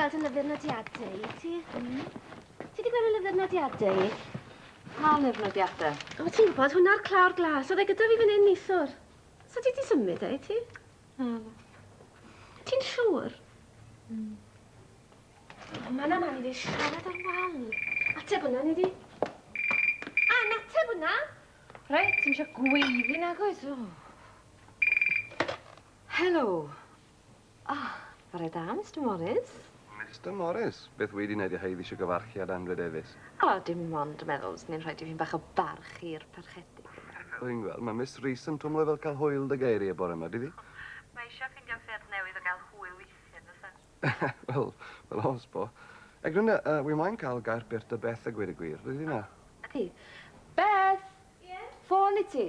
gweld y lyfr nodiadau i ti? Mm. Ti wedi gweld y lyfr nodiadau i? Pa lyfr nodiadau? O, ti'n gwybod, hwnna'r clawr glas. Oedd e gyda fi fan hyn nithwr. So ti wedi symud e i ti? Naddo. Ti'n siŵr? Mm. Mae man a man i fi siarad ar wal. Ateb hwnna, neu di? A, nateb hwnna! Reit, ti'n siarad gweiddi nag oes? Helo. Ah, Bore da, Mister Morris. Mister Morris? Beth wedi wneud i chi ddi-isio gyfarchu â Andrew Davies? O, dim ond yn meddwl fyswn i'n rhoi dipyn bach o barch i'r Parchedig. Rwy'n gweld. Mae Miss Rees yn twmlo fel cael hwyl dy geiriau bore yma, dydi? Mae eisiau ffeindio ffyrdd newydd o gael hwyl weithiau, yn does e? Wel, fel oes bo. Eglwynda, yy, wi moyn cael gair byr 'da Beth a gweud y gwir, ydy hynna? Ydy. Beth! Ie? Ffôn i ti!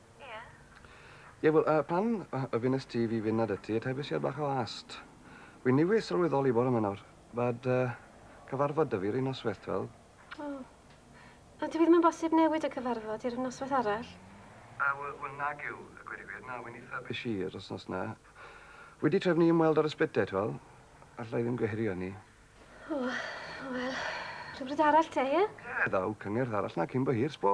Ie. Ie, wel, yy, pan yy y fynest ti i fi fyned ati, y taifes i ar bach o ast. Wi niwis sylweddoli bore 'ma nawr, fad yy cyfarfod 'da fi 'r un nosweth, t'weld. O. A dyw 'i ddim yn bosib newid y cyfarfod i'r nosweth arall? Yy, we- wel, nag yw, a gweud y gwir, na, wi nitha bish i 'r wsnos 'na. Wi 'di trefnu ymweld ar y sbyte, t'wel. Alla i ddim gwehyru arni. O, wel, rhywbryd arall te, ie? Ie, ddaw cyngerdd arall 'na cyn bo hir, s'bo.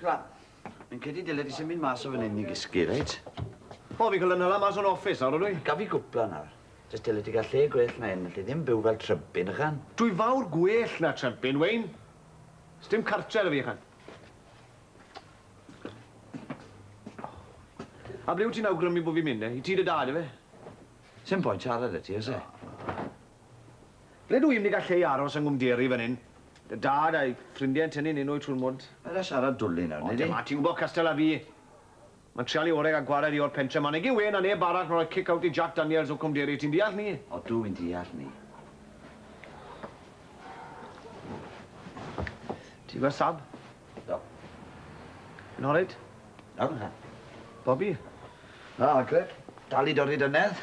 Sgwad, fi'n credu dyle di symud mas o fan hyn i gysgu, reit? O, fi'n cael yn hala mas o'n office nawr, ydw i? Gaf fi gwpla nawr. Jyst dyle ti gael lle gwell na hyn, alli ddim byw fel trympyn, ychan? Dwi fawr gwell na trympyn, Wayne. Sdim cartre da fi, ychan. A ble wyt ti'n awgrymu bod fi'n mynd, eh? I tŷ dy dad, efe? Sim pwynt siarad 'da ti, oes e? Ble dw i'm 'di gallu ei aros yng Nghwmderi fan hyn. Dy dad a'i ffrindiau yn tynnu ninw i trwy'r mwd. Paid â siarad dwli nawr, wnei di? O, dyma, ti'n gwybod cystal â fi. Mae'n trial ei orau gael gwared i o'r pentre 'ma. Nage wê na neb arall, mae'n rhoi cic-out i Jac Daniels o Cwmderi. Ti'n deall 'ny? O, dw i'n deall 'ny. Ti'n gweld Sab? Do. Yn horait? Iawn, ha. Bobi? Na, Agred. Dal i dorri dynedd.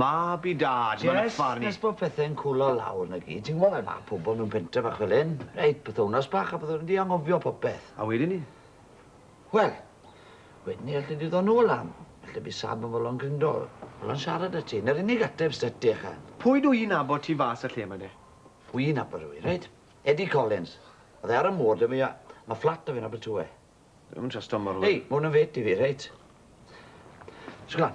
Mab i Dad, ma' 'na funny. Jest nes bod pethe'n cwlo lawr 'na gyd, ti'n gwbo fel ma' pobol mewn pentre fach fel 'yn, reit, pythownos bach a byddwn ni 'di anghofio popeth. A wedyn 'ny? Wel, wedyn 'ny alle di ddod nôl lan, falle by' Sam yn fodlon grindo, fodlon siarad 'da ti, 'na'r unig ateb s'da ti ychan. Pwy dw i'n nabod tu fas y lle 'ma de? Wi'n nabod rywun, reit, Eddie Collins, o'dd e ar y môr 'da fi a ma' fflat 'da fe yn Abertawe. Dwi'm yn trust o mor le. Hei, ma' hwn yn fit i fi, reit? Sglan,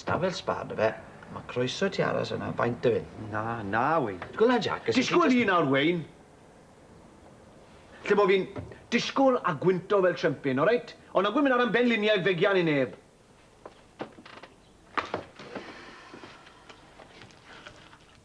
stafell sba ynda fe, a ma' croeso i ti aros yna faint dy fyn. Na, na, Wayne. Sgwl na, Jack, os wyt ti jyst... Disgwl i nawr, Wayne. Lle bo fi'n disgwl a gwynto fel trempyn, oreit? Ond na gwn myn' ar 'yn benliniau fegian i neb.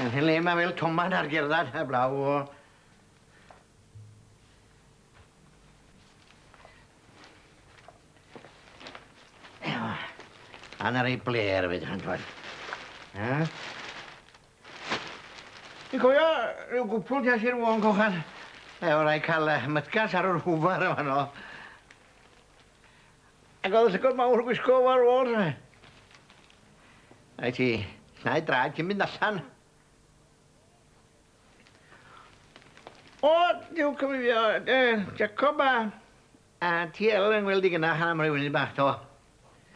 Yn hen le ma' fel toman ar gerddad heblaw o. Ewa. A 'na rei blêr efyd fan 'cw. Ia? Fi cofio ryw gwpwl tu allt i'r Fôn Cochar efo rai ca'l yy mytgas ar yr hwfar yn fano. Ac oedd y llygod mawr yn gwisgo fo ar ôl. Rhaid ti llnau draed cyn mynd allan. O, diw cyfrifio, uh, Jacob a, a ti el yn gweld i gynnach am roi wyni bach to.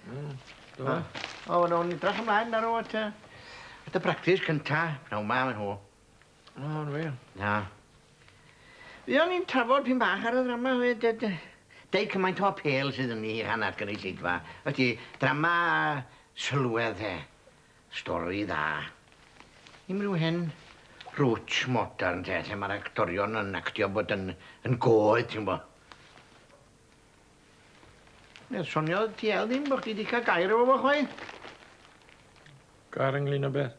Mm, do. O, nhw'n idrach ymlaen ar o at, at y practis cynta, pnawn ma, maen nhw. O, yn wir? Na. Fuon ni'n trafod pyn bach ar y ddrama we de de. Deu cymaint o apêl sydd ynddi hi hanner gynulleidfa. Wyt ti, drama sylwedd de. Stori dda. Dim ryw hen rwtsh modern te, lle mae'r actorion yn actio bod yn, yn goed, ti'n bo. Wel, soniodd TL ddim bod chdi wedi cael gair efo fo chwaith. Gair ynglyn â beth?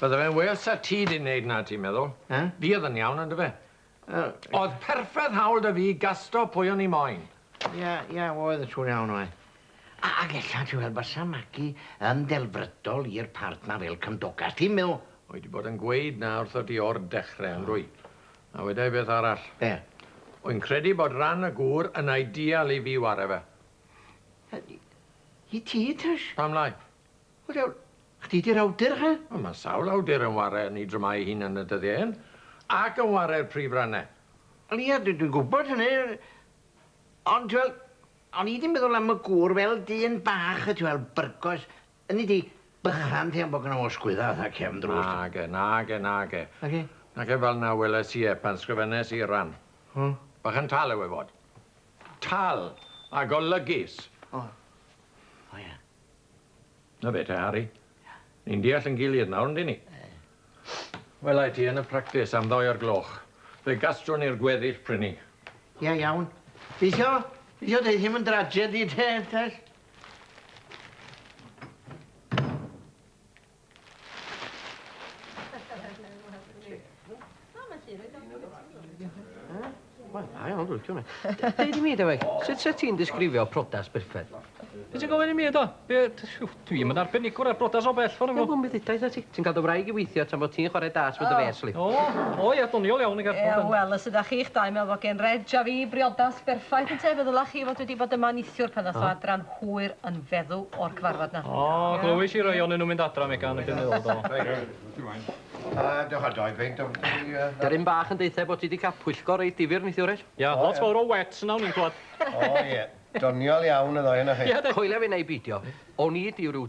Bydde fe'n well 'sa ti 'di neud 'na, ti'n meddwl? Eh? Fi o'dd yn iawn, yndyfe? Wel... O'dd perfedd hawl 'da fi i gasto pwy o'n i moyn. Ie, ie, oedd, siŵr iawn oedd. A- ag ella, ti'n weld, bysa Magi yn ddelfrydol i'r part 'na fel cymdogaeth, ti'n me'wl? Wy 'di bod yn gweud 'na wrthot ti o'r dechre, yndwy? A weda i beth arall. Be? Wy'n credu bod ran y gŵr yn ideal i fi ware fe. I ti, Trish? Pam lai? Wel diawl, chdi di'r awdur he? Wel ma' sawl awdur yn ware yn 'i dramâu 'i hun yn y dyddie hyn, ac yn ware'r prif rane. Wel ie, dwi dwi'n gwbod hynny, ond t'wel, o'n i 'di meddwl am y gŵr fel dyn bach y t'wel, byrgos, ynni di, bychan ti am bo' gynno fo sgwydda fatha cefn drws. Nage, nage, nage. Nage? Nage fel na weles i e pan sgrifennes i'r ran. O. Bychan tal yw e fod. Tal, a golygus. O. O ie. Na fe te, Harri. Ni'n deall yn gilydd nawr, yndyn ni? Wela i ti yn y practis am ddoi o'r gloch. Fe gastrwn ni'r gweddill prynu. Ie, iawn. Gobeithio, gobeithio dei ddim yn drajedi te, Tess. Deud i mi, Dewi, sut sa ti'n disgrifio prodas berffaith? Be ti'n gofyn i mi, do? Be... Dwi'm yn arbenigwr ar brodas o bell ffordd o gwbl. Wel, mi ddudaith ti. Ti'n cael dy wraig i weithio tan fod ti'n chwarae darts with the fêrs, li. O, o ia, doniol iawn y gerdd. Ia, wel, os ydach chi'ch dau yn meddwl fod gen Reg a fi briodas berffaith, ynte, fe ddylech chi fod wedi bod yma neithiwr pan ddath o adran. hwyr yn feddw o'r cyfarfod na. O, glywis i rai onyn nhw'n mynd adra, Megan, ac yn meddwl, do. Reit, reit, ti moyn. A dewch a doi beint o yy... Daryn bach yn deutha bo ti di ca'l pwyllgor reit difyr neithiwr Reg. Ia, lot fowr o wets yna o'n i'n clwad. O ie, doniol iawn y ddou onoch chi. Coelia fi neu beidio, o'n i di ryw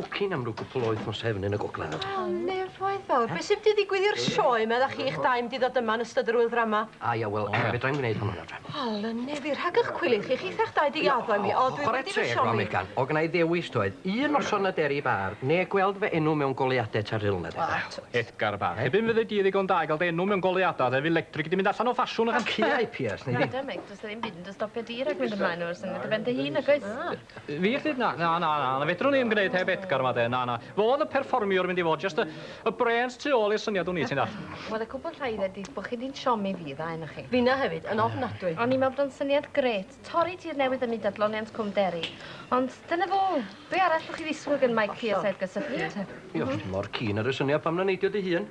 Bwcin am rw gwpwl o wythnose yn y gogledd nawr. O, nefoedd fawr. Be' sy mynd i ddigwydd i'r sioe 'ma dach chi'ch dau mynd i ddod yma yn ystod yr ŵyl ddrama? A ia, wel, fedrai'm gneud hwnnw nawr te. O, lyne fi, rhag 'ych cwilydd chi, chitha'ch dau 'di gaddo i mi. O, dwi wedi fy siomi. Chware teg, Megan, o' gynna i ddewis doedd, un noson na Deri Bar, ne' gweld fy enw mewn goleuade tar Rhyl na de. O, twt. Edgar Bar. Erbyn fyddi di ddigon da i ga'l dy enw mewn goleuada de, fydd Lectric 'di mynd allan o ffasiwn ychan. Caeau piers, neu ddim. Nadw, Mick, does 'na ddim byd yn dy stopio di rhag mynd ymlaen efo'r syniad ar ben dy hun, nag oes? Na. Fi all ddeud na, na, na, na, na fedrwn i ddim gwneud heb Edgar yma de, na, na. Fo oedd y perfformiwr mynd i fod, just y, y brains tu ôl i'r syniad wn i, ti'n dall. Wel, y cwbl rhaid ydi bo' chi di'n siomi fi, dda enoch chi. Finna hefyd, yn ofnadwy. O'n i'n meddwl bod o'n syniad grêt, torri tir newydd ym myd adloniant Cwm Derry. Ond dyna fo, be' arall 'llwch chi ddisgwyl gan Mike Pierce a Edgar Suffield te? Ie, os ti mor keen ar y syniad, pam na neidio dy hun?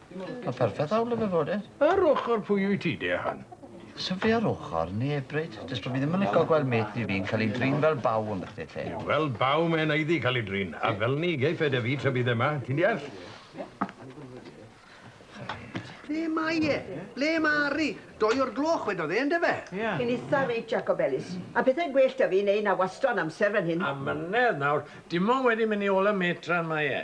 Mae'n perffaith awl efe fod e. Ar ochr pwy wyt ti de, Han? Sa fi ar ochr neb, Bryd. Jyst bod fi ddim yn lico gweld mêt ni fi'n cael ei drin fel baw yn bythdi lle. Ie, fel baw mae e'n aeddu cael ei drin, a fel ni geiff e de fi tra bydd e ma, ti'n deall? Ble mae e? Ble mae Ari? Doi o'r gloch wedodd e, yndyfe? Ie. Chi'n itha rich, Jacob Ellis. A pethau'n gwell 'da fi neu na wastro yn amser fan hyn. A mynedd nawr, dim ond wedi mynd i ôl y mêt tra mae e.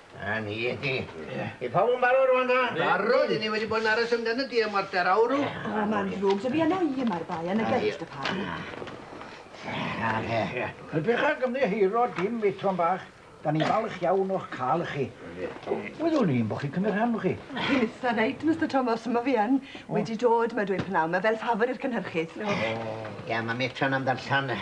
'Na ni. Yw pawb yn barod rŵan ta? Barod! 'yn ni wedi bod yn aros amdano di am warter awr rw. O, ma'n ddrwg 'da fi arna i y mae'r bai yn y gyrff dy pam. Na fe. Ydych ag ymddiheuro dim fetron bach. 'Dan ni'n falch iawn o'ch cael chi. Wyddwn i'n bo' chi'n cymryd rhan chi. Chi'n itha reit, Mister Tomos, on' ma' fi yn. Wedi dod 'ma dweud p'nawn 'ma fel ffafwr i'r cynhyrchydd. O. Ia, ma' metron am ddarllan yy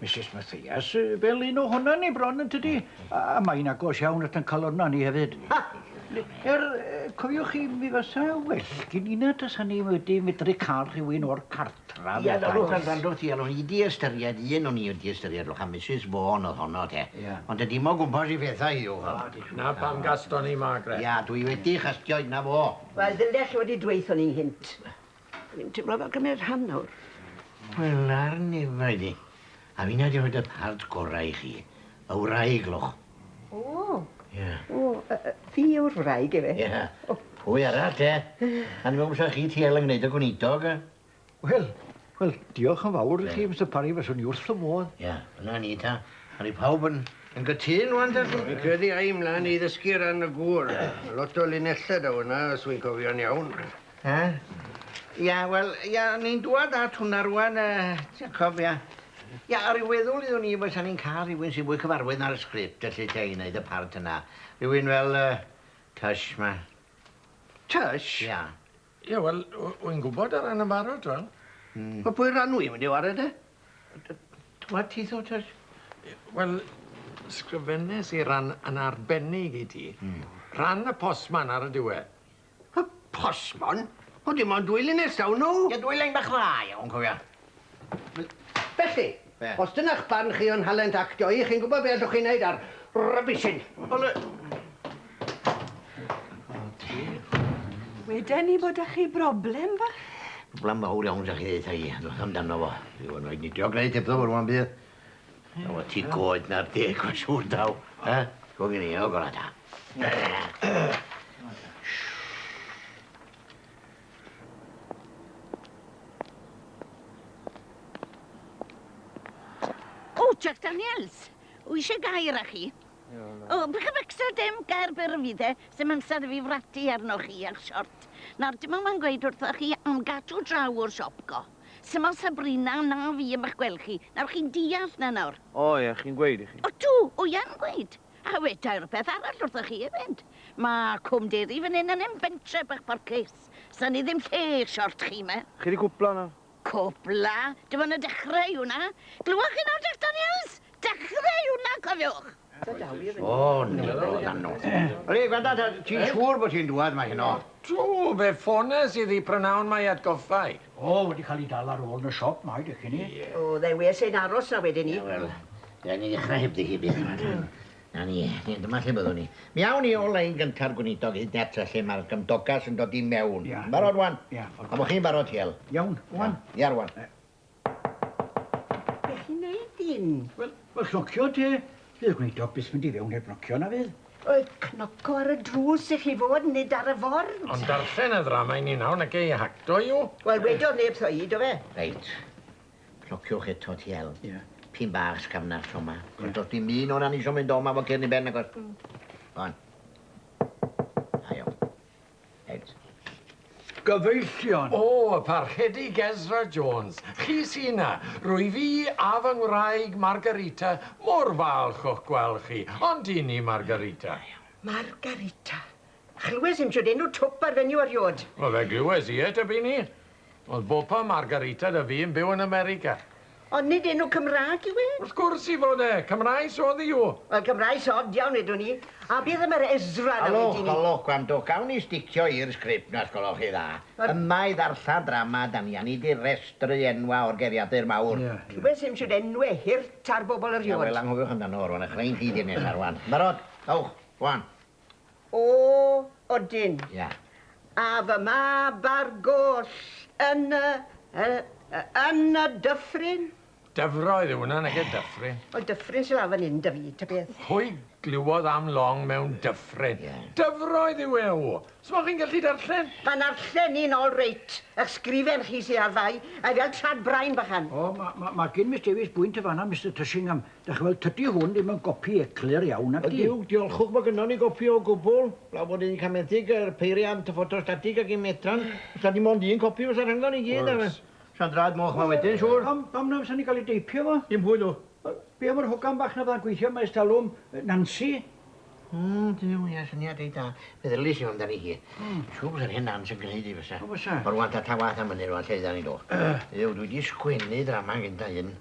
Misus Mathias, fel un ohonan ni bron yn tydi? A mae'n agos iawn at yn calonna ni hefyd. Er, cofiwch chi, mi fysa well gyn i na tasa ni wedi medru cael rhywun o'r cartra. Ia, na, rwch yn rando ti, alwn i di ystyried un o'n i wedi ystyried, rwch, a Misus Vaughan oedd honno, te. Ia. Ond te dim o gwmpas i phethau hi yw hwn. Na pam gaston ni, Margaret. Ia, dwi wedi chastio, dyna fo. Wel, ddylech chi wedi dweutho ni nghynt. Fi'n timlo fel cymyd rhan nawr. Wel, ar nefaid i. A finna di rhoid y part gorau i chi. Y wraig, loch. O! Ie. O, yy yy fi yw'r wraig efe? Ie. O. Pwy arall te? A ni'n meddwl bysa chi ti el yn gneud y gweinidog yy? Wel, wel, diolch yn fawr i chi, Mister Parry, fyswn i wrth fy modd. Ie, dyna ni ta. Awn ni pawb yn yn gytun rŵan ta? Fi'n credu ai mlan i ddysgu ran y gŵr. Lot o linella daw yna, os wi'n cofio'n iawn. Ia, ia, wel, ia, ni'n dŵad at hwnna rŵan, yy, Jacob, ia. Ia, ar ryw feddwl iddwn i fysa ni'n cael rhywun sy'n fwy cyfarwydd na'r sgript, felly, te, i wneud y part yna. Rhywun fel, yy, Tush, ma. Tush? Ia. Ia, wel, w- wy'n gwybod ar ran yn barod, wel. Mm. Wel, pwy ran wy'n mynd i ware, de? D- Dŵad ti tho, Tush. I- Wel, sgrifennes i ran yn arbennig i ti. Rhan y postman ar y diwedd. Y postmon? O dim ond dwy linell daw nhw! Ie, dwy lein bach dda iawn, cofia. Felly, os dyna'ch barn chi o'n nhalent actio i, chi'n gwybod be' allwch chi wneud â'r rubbish hyn. Wel yy... Weden ni bod 'da chi broblem fach. Broblem fawr iawn 'da chi, ddeutha i. Edrychaf amdano fo. Dwi 'di bod yn rhoid nidio grêt hebddo fo rŵan bydd? Wel o ti goed na'r deg mae'n siŵr daw. Ha? Go gen i, o gora da. O, Jack Daniels, wy eisiau gair â chi. O, bych yn extra dim gair byr yn fydd e, sy'n amser i fi fratu arnoch chi a'ch siort. Nawr, dim ond mae'n gweud wrthoch chi am gadw draw o'r siop go. Syml Sabrina, na fi am ych gweld chi. Nawr chi'n deall 'na nawr? O ie, chi'n gweud i chi. Odw, wi yn gweud. A weda i rwbeth arall wrthoch chi efyd. Ma' Cwm Deri fan 'yn yn hen bentre bach parchus. Sa ni ddim lle i'r siort chi 'ma. Chi 'di cwpla nawr? Cwpla? Dim ond y dechre yw 'na. Glywch chi nawr Jack Daniels? Dechre yw 'na, cofiwch! Ble, gwenda ta, ti'n siŵr bod hi'n dŵad 'ma heno? Do, fe ffones i ddi prynawn mae atgoffa i. O, wedi cael ei dal ar ôl yn y siop, mae dych chi'n i. O, ddewiais ein aros 'na wedyn 'ny. Wel, rhaid ni ddechrau hebddi hi byth, yma ta. 'Na ni, dyma lle byddwn ni. Mi awn ni o lein gynta'r gweinidog hyd net ta lle mae'r gymdogas yn dod i mewn. Barod ŵan? Ia. A bo chi'n barod, Hywel? Iawn, ŵan? Ia, rŵan. Be' chi'n neud dyn? Wel, wel cnocio te. Fydd y gweinidog byth mynd i fewn heb gnocio, na fydd? Wel, cnoco ar y drws i chi fod, nid ar y ford. Ond darllen y ddrama i ni nawr, na gei hac, do you? Wel, wedodd neb 'tho i, do fe? Reit. Cnociwch eto, ti hel. Ie. Pin bach sgafnar tro 'ma. Ie. Do's dim un o 'na'n isio mynd o 'ma efo cyrn i ben, nagos? Mm. Go on. Da iawn. Ed. Gyfeillion! O, y Parchedig Ezra Jones! Chi sy 'na! Rwyf i a fy ngwraig Margarita mor falch o'ch gweld chi, ond i ni, Margarita? Da iawn. Margarita. Chlywes i'm shwd enw twp ar fenyw eriôd. Wel, fe glywes i e, tybyn i. Oedd Bopa Margarita 'da fi yn byw yn America. Ond nid enw Cymraeg yw e? Wrth gwrs i fod e! Cymraes oedd i o! Wel, Cymraes od iawn wedwn i. A beth am yr Ezra 'na wedyn 'ny? Halwch, halwch, gwrandwch, gawn ni sticio i'r sgript 'na os gwelwch chi dda. Yma i ddarllen drama 'da ni, a nid i restru enwa' o'r geiriadur mawr. Rhywbeth sy'n siŵr, enwe hurt ar bobl eriod. Ia, wel, anghofiwch amdano fo rŵan, a chreu un chi ddydd nesa rŵan. Barod? Dowch, go on. O, odyn. Ia. A fy mab ar goll yn y, yy, yn y dyffryn? Dyfroedd yw hwnna, nage, dyffryn. Wel, dyffryn sy lawr fan 'yn 'da fi, ta beth. Pwy glywodd am long mewn dyffryn? Ie. Dyfroedd yw e, o! S'mo' chi'n gallu darllen? Pan narllen i'n all reit, 'ych sgrifen chi sy ar fai, mae fel trad brain bachan. O, ma', ma', ma' gin Miss Davies bwynt yn fan'na, Mister Tushingham. Dach chi'n gweld, tydi hwn ddim yn gopi eclur iawn nacdi? Ydi, diolchwch bod gynnon ni gopi o gwbl, blaw bod un camedig, yr peiriant, y ffotostatig ac un medran, os nad dim ond un copi fysa rhyngon i gyd a sa'n draed moch ma wedyn siŵr. Pam pam na fysa ni'n cael ei deipio fo? Dim pwy dw? Be am yr hogan bach na fydda'n gweithio yma ers talwm, Nansi? Hmm, Duw, ie, syniad reit dda. Meddylies i amdani hi. Siŵr bysa'r hen Nans yn gneud hi fysa. O fysa? Wel rŵan ta ta wath am ynny rŵan, lle ydan ni dw? Duw, dwi di sgwennu ddrama yn gynta un,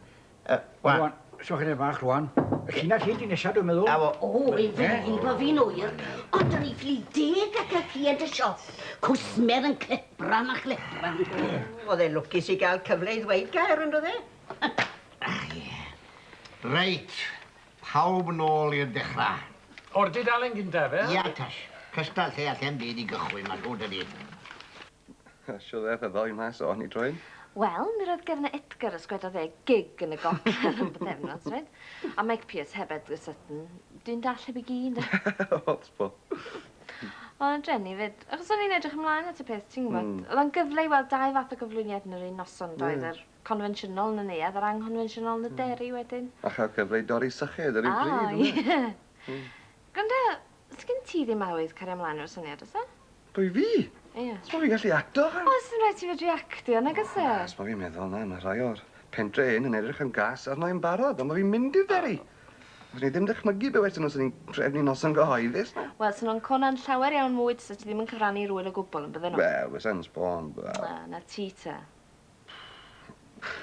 Uh, wan. Rwan, so chyda fach rwan. Y llinell hyn di nesaf dwi'n meddwl. Awo. O, ei fynnu bo fi'n oer. Ond o'n i ffili deg ac y client y siop. Cwsmer yn clepran a chlepran. Oedd e lwcus i gael cyfle i ddweud gair yn dod e? Reit, pawb nôl i'r dechrau. O'r dudalen gyntaf, e? Ia, Tash. Cystal lle allem byd i gychwyn, mae rhwyd ydi. Siŵr ddaeth y ddoi mas o hon i droed. Wel, mi roedd gefn Edgar os gwedodd e gig yn y gogledd am bythefnos, roedd. A Mike Pierce heb Edgar Sutton. Dyn dall heb i gi, ynde? Ots bo. O, dreni 'fyd. Achos o'n i'n edrych ymlaen at y peth, ti'n gwybod. Mm. Oedd o'n gyfle i weld dau fath o gyflwyniad yn yr un noson, doedd? Yeah. Yr confensiynol yn y neuadd a'r anghonfensiynol yn y hmm. deri wedyn. A chael cyfle i dorri syched ar ei bryd, O, ie. Gwranda, sgyn ti ddim awydd cario ymlaen efo'r syniad, oes e? Pwy fi? Ie. Os ma fi'n gallu acto ch'mo'? Wel sdim raid ti fedru actio nag o's e? Os ma fi'n meddwl na ma' rhai o'r pentre hyn yn edrych yn gas arno i'n barod on' ma' fi'n mynd i'r dderi. Fyswn i ddim dychmygu be' westyn nw swn i'n trefnu noson gyhoeddus na? Wel swn o'n cona'n llawer iawn mwy tasa ti ddim yn cyfrannu i'r ŵyl o gwbwl on' bydden nhw? Wel fysai'n sbon wel. Na, na ti ta.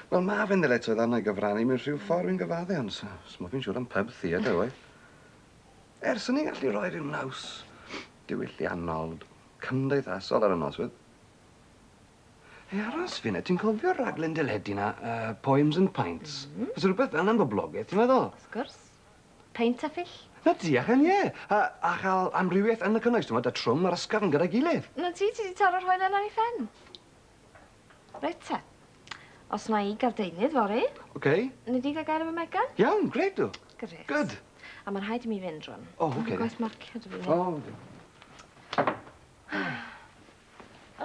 Wel ma' fe'n ddyletswydd arno i gyfrannu mewn rhyw ffor fi'n gyfadde ond so sm o fi'n siŵr am pub theatre oedd. Er swn i'n gallu roi ryw naws diwylliannol, cymdeithasol ar y noswyl. Hei, aros fi 'na, ti'n cofio'r raglen deledu 'na, uh, Poems and Pints? Mm -hmm. Fysa rhywbeth fel 'na'n boblogaidd, ti'n meddwl? Wrth gwrs. Peint a ffill. Na ti, a chael ie. A, a chael amrywiaeth yn y cynnwys, ti'n meddwl, da trwm ar ysgafn gyda'i gilydd. Na ti, ti di taro'r hoel yna i ffen. Reit te. Os mae i gardeinydd fory... OK. Nei di gael gair efo Megan? Iawn, grêt dw. Grêt. Good. A mae rhaid i mi fynd rwan. O, OK. Mae'n gwaith marcio dw i. O.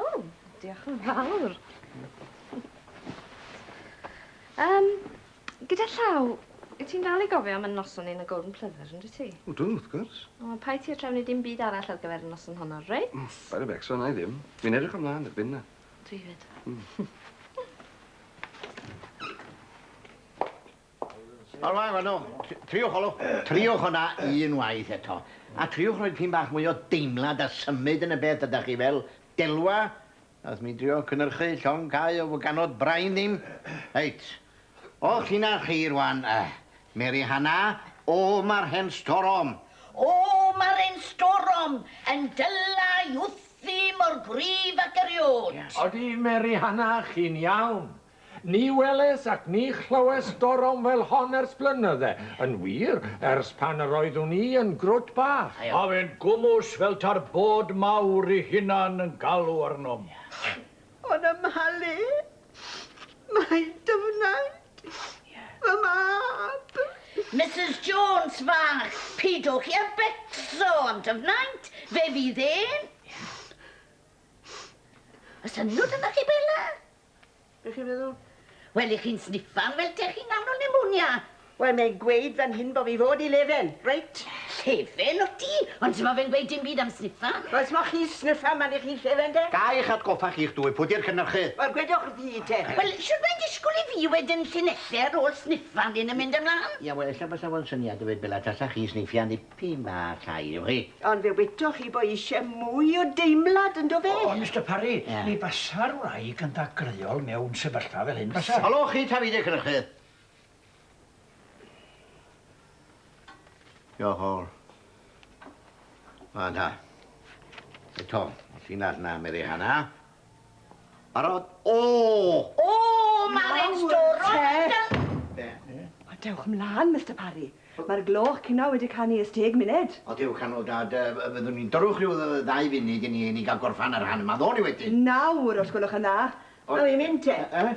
O, diolch yn fawr. Um, gyda llaw, wyt ti'n dal i gofio am y noson ni yn y Golden Plyfr, yn dwi ti? O, dw, wrth gwrs. O, pa i ti a trefnu dim byd arall ar gyfer y noson honno, reit? Mm, Barry Beck, so na i ddim. Fi'n edrych ymlaen, erbyn na. Dwi 'fyd. Hmm. Wel wan wan o, tr- triwch olw, triwch honna un waith eto, a triwch roi pyn bach mwy o deimlad a symud yn y beth ydach chi fel delwa, nath mi drio cynyrchu llong cau o fwganod brain ddim. Reit. O, chi'na chi rwan, Mary Hanna. O, ma'r hen storom! O, ma'r hen storom yn dyla' i wthfi mor gryf ac eriod. Odi, Mary Hanna, chi'n iawn. Ni weles ac ni chlywes storom fel hon ers blynydde, yn wir, ers pan yr oeddwn i yn grwt bach. Ma' fe'n gwmws fel ta'r bod mawr 'i hunan yn galw arnom. O'n ymhalu Mae dy wnaed fy mab! Misus Jones fach, pidwch i a becso am dy wnaed, fe fydd e'n... Oes synnwd ynddo chi, Bela? Be chi'n feddwl? Wel, 'ych chi'n sniffan fel 'tech chi'n nghanol nemonia. Wel, mae'n gweud fan hyn bo' fi fod i lefen, reit? Llefen wt ti? Ond simo fe'n gweud dim byd am sniffa. Wel, simo chi'n sniffa man 'ych chi'n llefen de? Ga i'ch atgoffa chi'ch dwy pwy 'di'r cynyrchy? Wel, gwedwch wrthi te. Wel, shwd mae'n disgwl i fi wed yn llinelle ar ôl sniffa am hyn yn mynd ymlan? Ie, wel, ella bysa fo'n syniad i weud bela tasa chi'n sniffio nipyn bach llai, yw chi? Ond fe wedoch chi bo' isie mwy o deimlad, yndo fe? O, Mister Parry, ni basa'r wraig yn ddagreuol mewn sefyllfa fel hyn, basa? Helo chi, Tafydd y cynyrchydd. Diolch o'r. Mae'n ha. E Tom, sy'n ar na meri hana. Barod? O! O, mae'r e'n stor Be? O, dewch mlaen, Mister Parry. Mae'r gloch cynna wedi canu ers deg munud. O, dewch â nhw, Dad. Yy, fyddwn ni'n dyrwch rhyw ddau funud i ni i ni gael gorffan yr han yma. Ddown ni wedyn. Nawr, os gwelwch yn dda. Awn ni'n mynd te. Yy?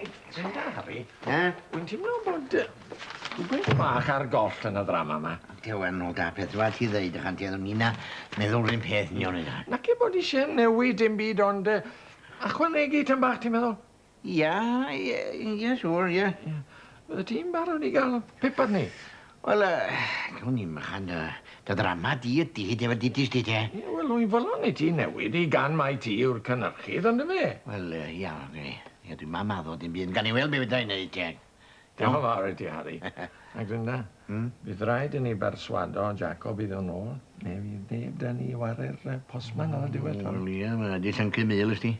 Ti'n caru? Na. Wy'n timlo bod yy rwbeth bach ar goll yn y ddrama 'ma. Ti ŵan nôl da peth dwa ti ddeud ychan ti a ynna meddwl run peth ni o'n yna. Naci bod isie newid dim byd ond yy achwanegu tym bach ti'n meddwl? Ia ie ie siŵr ie. Ie. Fyddet ti'n barod i ga'l pip arni? Wel, gawn ni mlaen dy ddrama di y dydd efo dy dystys di, de? Ie, wel, rwy'n fodlon i ti newid hi gan mai ti yw'r cynhyrchydd, ond dyfe? Wel, ia, ia, dwi'n mam addo dim byd, ond gawn ni weld be fedra i wneud, te. Diolch yn fawr i ti, Harri. A Glynda, bydd rhaid i ni berswado Jacob i ddod nôl, neu fydd neb 'da ni i ware'r postman ar y diwedd, t'wel'. Wel, ia, ma' 'di llyncu mul, ysdi.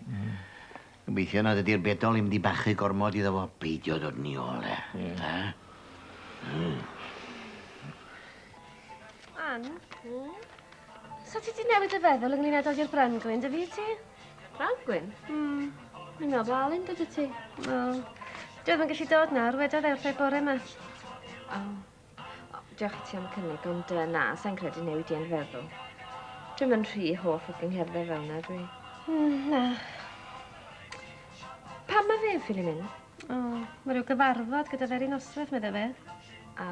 Gobeithio nad ydi'r bedol i'm di bachu gormod iddo fo. Peidio dod ni ôl e. Ie. Da? Mm. Ann? Hmm? Sa ti di newid dy feddwl ynglyn â dod i'r Brangwyn, dy fi ti? Brangwyn? Hmm. Mi'n meddwl bod Alun gyda ti. Wel, dwi ddim yn gallu dod nawr, wedodd e wrth ei bore yma. Oh. Diolch i ti am y cynnig, ond uh, na, sa'n credu newid i yn feddwl. Dwi'n mynd rhy hoff o gyngherddau fel yna, dwi. Mm, na. Pam mae fe yn ffili mynd? O, oh, mae rhyw gyfarfod gyda fe'r un oswedd, medda fe. A.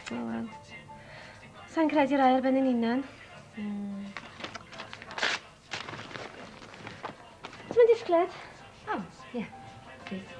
O, oh, wel. Sa'n credu rai ar ben yn unan. Mm. Ti'n mynd disgled? O, oh, ie. Yeah. Please.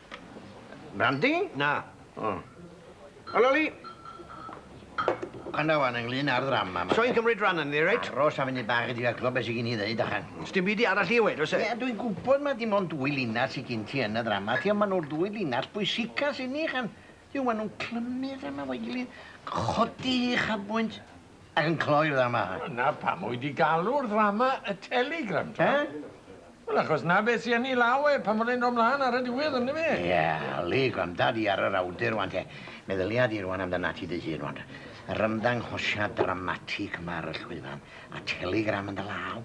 Brandy? Na. O. O Loli! Gwranda wan ynglyn â'r ddrama ma. Soi'n cymryd ran ynddi, reit? Aros a funud bach i drio clywed beth sy gin i ddeud, achan. Sdim byd i arall i weud, oes e? Ie, dwi'n gwybod mai dim ond dwy linell sy gin ti yn y ddrama ti, ond maen nhw'r dwy linell bwysica sy inni, achan. Yw, maen nhw'n clymu'r ddrama efo'i gilydd, codi ei uchafbwynt. ac yn cloi'r ddrama. Dyna pam wy di galw'r ddrama y Telegram, t'mo'? Eh? Wel, achos 'na be' sy yn 'i law e, pan fod e'n do' mlan ar y diwedd, on'd yfe? Ie, Lee, gwranda di ar yr awdur ŵan te. Meddylia di rŵan amdanat ti dy hun ŵan. Yr ymddanghosiad dramatig 'ma ar y llwyfan, a Telegram yn dy law.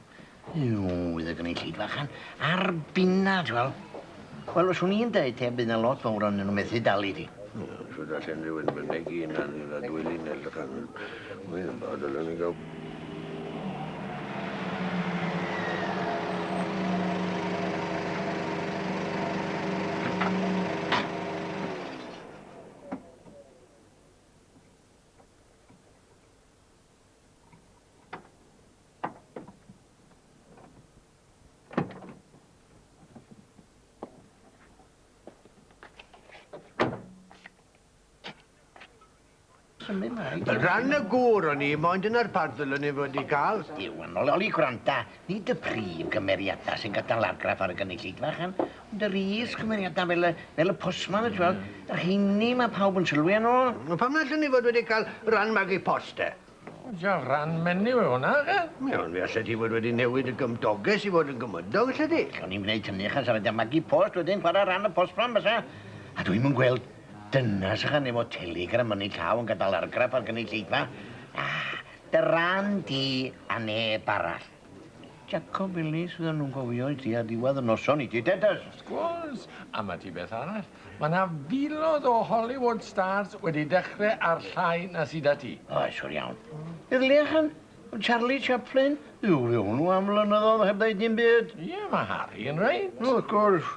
Nw, fydd y gynulleidfa chan ar binna, ti wel'. Wel, os wn i'n deud te, bydd 'na lot fowr o'n nw methu dalu di. Ie, os fydda lle unrhyw un mynegi yna ni na dwy linell chan. Wel, a dylen ni ga'l... Rhan y gŵr o'n i, moyn dyna'r parddwl o'n i fod i gael. Diwan, oli, oli, gwranda, Nid y prif gymeriadau sy'n gadael argraff ar y gynulleidfa allan, ond yr is-gymeriadau fel y, fel y postman, y tywel, y rheiny mae pawb yn sylwi arno. O, pam na allwn ni fod wedi cael rhan magu post te? O, ja, rhan menyw yw hwnna, oce? Ie, ond fe allet ti fod wedi newid y gymdogaeth i fod yn gymydog, allet ti? Allwn ni'm gwneud hynny achos ar y da magu post wedyn chwarae rhan y postman bysa? A dwi'm yn gweld dynas ychan efo telegram yn ei llaw yn gadael argraff ar gynulleidfa. Na, Dy ran di a neb arall. Jacob Ellis fyddan nhw'n gofio i tua diwedd y noson i ti Dennis! Sgwrs! A ma ti beth arall, ma na filodd o Hollywood stars wedi dechre ar llai na sy da ti. Oes, siwr iawn. Bydd Leachan, Charlie Chaplin, byw fe hwnnw am flynyddodd heb ddeud dim byd. Ie, ma Harry yn reit. O, wrth gwrs.